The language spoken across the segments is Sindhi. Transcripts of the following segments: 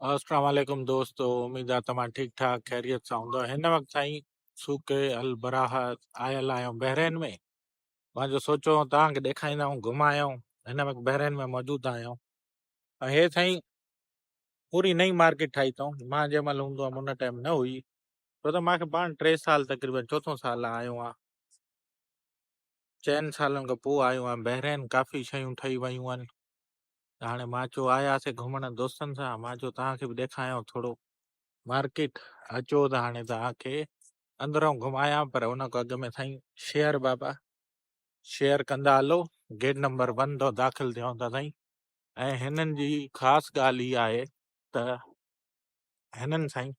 السلام عليڪم دوستو اميد آ توهان ٺيڪ ٺاڪ خيريت سان هوندو هن وقت سائين سوڪي البراهه آيل آهيون بحرين ۾ مان جو سوچو توهان کي ڏيکاريندا آهيون گهمايون هن وقت بحرين ۾ موجود آهيون ۽ هي سائين پوري نئي مارڪيٽ ٺاهي اٿئون مان جنهن مهل هوندو هيم ان ٽائيم نه هئي ڇو ته مانکي پاڻ ٽي سال تقريبن چوٿون سال آيو آهيان چئن سالن کان پوء آيو آهيان بحرين ڪافي شيون ٺهي ويون آهن ته هاڻي مان چيو آياسي گهمڻ دوستن سان مان چيو توهان کي به ڏيکايان ٿورو مارڪيٽ اچو ته هاڻي توهان کي اندرون گهمايان پر ان کان اڳ ۾ سائين شيئر بابا شيئر ڪندا هلو گيٽ نمبر ون تان داخل ٿيون ٿا سائين ۽ هنن جي خاص ڳالهه هي آهي ته هنن سائين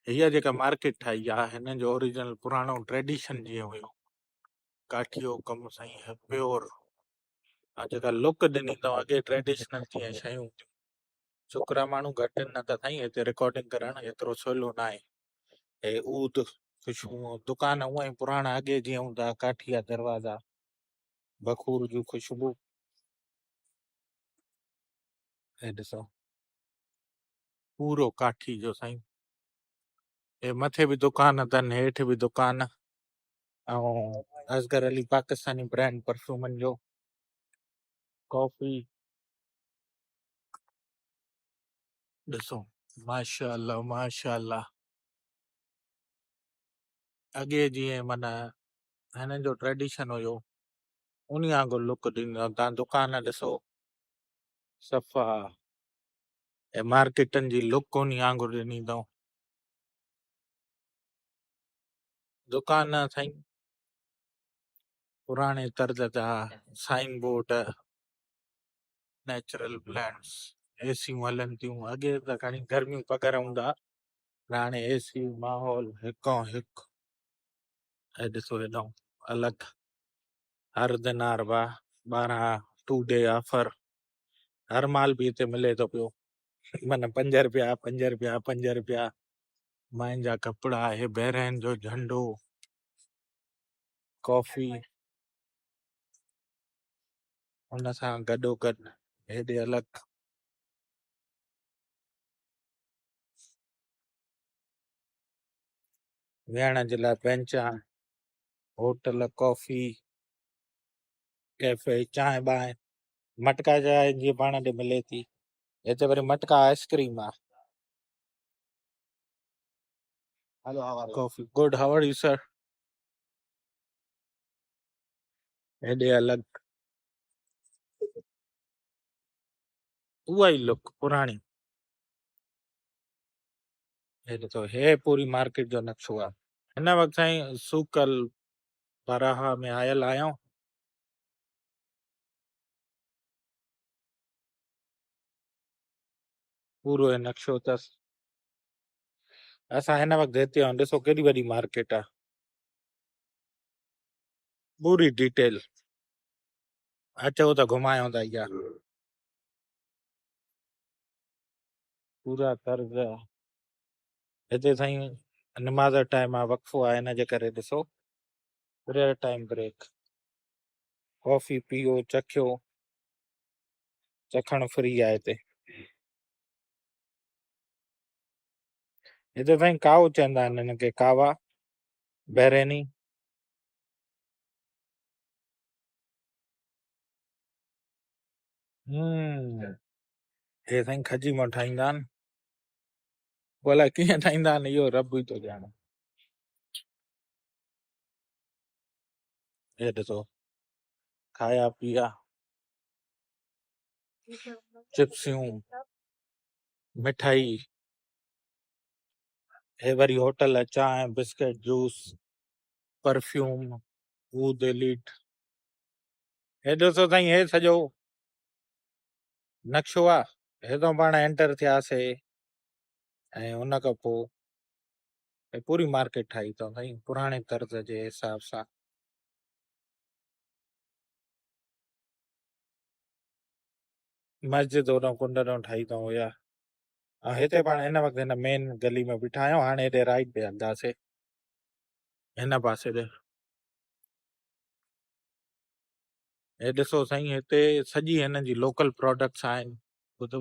هيء جيڪا مارڪيٽ ٺاهي آ هن جو اوريجنل پراڻو ٽريڊيشن جيئن هيو ڪاٺيو ڪم سائين هي پيور ۽ جيڪا لوڪ ڏني تون اڳي ٽريڊيشنل جيئن شيون هيون ڇوڪرا ماڻهو گهٽ آهن نه ته سائين هتي رڪارڊنگ ڪرڻ ايترو سولو ناهي هي اود خوشبو دڪان هونء ئي پراڻا اڳي جيئن هوندا ڪاٺيا دروازا بخور جون خوشبو هي ڏسو پورو ڪاٺي جو سائين اي مٿي به دڪان اٿن هيٺ به دڪان ۽ اصغر علي پاڪستاني برانڊ پرفيومن جو ڪافي ڏسو ماشاء الله ماشاء الله اڳي جيئن مانا هنن جو ٽريڊيشن هيو ان وانگر لڪ ڏيندو تان دڪان ڏسو صفا اي مارڪيٽن جي لڪ ڪونهي آڱر ڏني تون. دڪان نه سائين پراڻي طرز جا سائين بورڊ نيچرل پلانٽس اي سيون هلن ٿيون اڳي ته کڻي گرميون پگهر هوندا پر هاڻي اي سي ماحول هڪو هڪ اي ڏسو هيڏو الڳ هر دينار با ٻارهن ٽو ڊي آفر هر مال به هتي ملي ٿو پيو من پنج رپيا پنج رپيا پنج رپيا مائن جا ڪپڙا هي بحرين جو جهنڊو ڪافي ان سان گڏو گڏ هيڏي الڳ ويهڻ جي لاء بينچا هوٽل ڪافي ڪيفي چانهه بانهه مٽڪا جا آهن جيئن پاڻ ڏي ملي ٿي هتي وري مٽڪا آئسڪريم آ ڪافي good hi are you sir هيڏي الڳ اها ئي لڪ پراڻي هي ڏسو هي پوري مارڪيٽ جو نقشو آ هن وقت سائين سوڪل براها ۾ آيل آهيان پورو هي نقشو اٿس اسان هن وقت هتي آهيون ڏسو ڪيڏي وڏي مارڪيٽ آ پوري ڊيٽيل اچو ته گهمايون ته ايا پورا طرز آ. هتي سائين نماز ٽائيم آ وقفو آ هن جي ڪري ڏسو پريئر ٽائيم بريڪ ڪافي پيئو چکيو چکڻ فري آهي هتي هتي سائين ڪاو چوندا آهن هن کي ڪاوا بحريني هي سائين کجي مان ٺاهيندا آهن پوء الائي ڪيئن ٺاهيندا آهن اهو رب ئي ٿو ڄاڻي هي ڏسو کايا پيا چپسيون مٺائي هي وري هوٽل چانهه بسڪٽ جوس پرفيوم عود ليٽ هي ڏسو سائين هي سڄو نقشو آهي هتان پاڻ انٽر ٿياسي ۽ ان کان پوء ۽ پوري مارڪيٽ ٺاهي اٿئون سائين پراڻي طرز جي حساب سان. مسجد هوڏانهن ڪنڊ ڏانهن ٺاهي اٿئون اها ۽ هتي پاڻ هن وقت هن مين گلي ۾ بيٺا آهيون هاڻي هيڏي رائيٽ ڏي هلنداسي هن پاسي ڏي هي ڏسو سائين هتي سڄي هنن جي لوڪل پروڊڪٽس آهن ٻڌو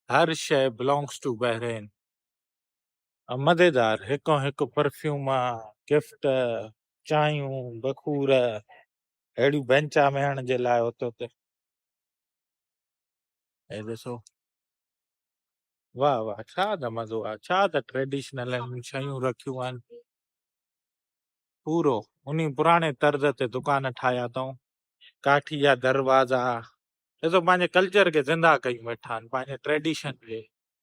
هر شي بلانگس ٽو بحرين مزيدار هڪان هڪ پرفيوم، گفٽ، چانهيون، بخور اهڙيون بئنچا ويهڻ جي لاء اتو ته هي ڏسو واهه واهه ڇا ته مزو آ ڇا ته ٽريڊيشنل هن شيون رکيون آهن پورو انهي پراڻي طرز تي دڪان ٺاهيا اٿائون ڪاٺي جا دروازا ڏسو پنهنجي ڪلچر کي زنده ڪيون ويٺا آهن پنهنجي ٽريڊيشن کي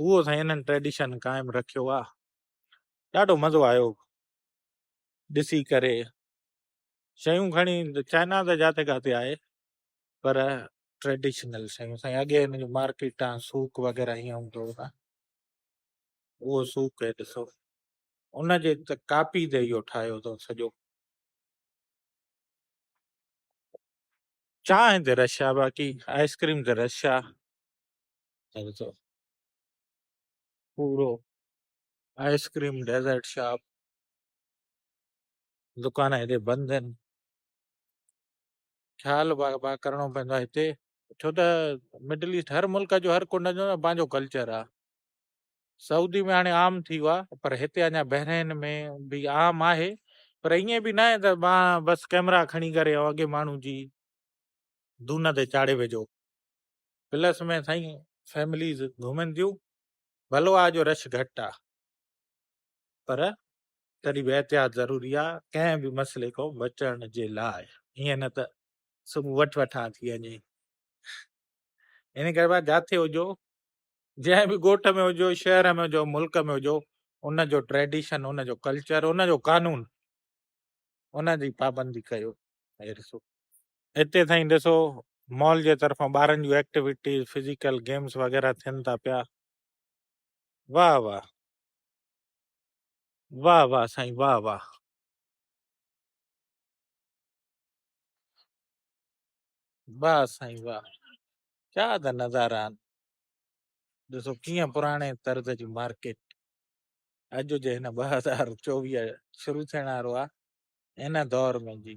اهو سائين انهن ٽريڊيشن قائم رکيو آ ڏاڍو مزو آيو ڏسي ڪري شيون کڻي چائنا ته جاٿي ڪاٿي آهي پر ٽريڊيشنل شيون سائين اڳي هن جو مارڪيٽ آ سوق وغيره هيئن هوندو هو سائين اهو سوق هي ڏسو ان جي ته ڪاپي تي اهو ٺاهيو اٿو سڄو چانهه تي رش آ باقي آئسڪريم تي رش آ پورو آئس ڪريم ڊيزرٽ شاپ دڪان هتي بند آهن خيال با با ڪرڻو پوندو آهي هتي ڇو ته مڊل ايسٽ هر ملڪ جو هر ڪنڊ جو نه پنهنجو ڪلچر آهي سعودي ۾ هاڻي عام ٿي ويو آهي پر هتي اڃا بحرين ۾ به عام آهي پر ائين به ناهي ته ما بس ڪئميرا کڻي ڪري ۽ اڳي ماڻهو جي دونهن تي چاڙهي وجهو پلس ۾ سائين فيمليز گهمن ٿيون ڀلو آ جو رش گهٽ آ پر تڏهن به احتياط ضروري آ ڪنهن به مسئلي کان بچڻ جي لاء ائين نه ته صبح وٺ وٺان ٿي وڃي ان ڪري بقا جاٿي هجو جنهن به ڳوٺ ۾ هجو شهر ۾ هجو ملڪ ۾ هجو ان جو ٽريڊيشن ان جو ڪلچر ان جو قانون ان جي پابندي ڪيو هتي سائين ڏسو مال جي طرفان ٻارن جون ايڪٽيوٽيز فزيڪل گيمز وغيره ٿين ٿا پيا واه واه واه واه سائين واه واه واه سائين واه ڇا ته نظارا آهن ڏسو ڪيئن پراڻي طرز جي مارڪيٽ اڄ جي هن ٻه هزار چوويهه شروع ٿيڻ وارو آهي ان دور ۾ جي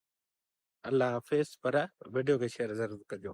الله حافظ پر ويڊيو کي شيئر ضرور ڪجو.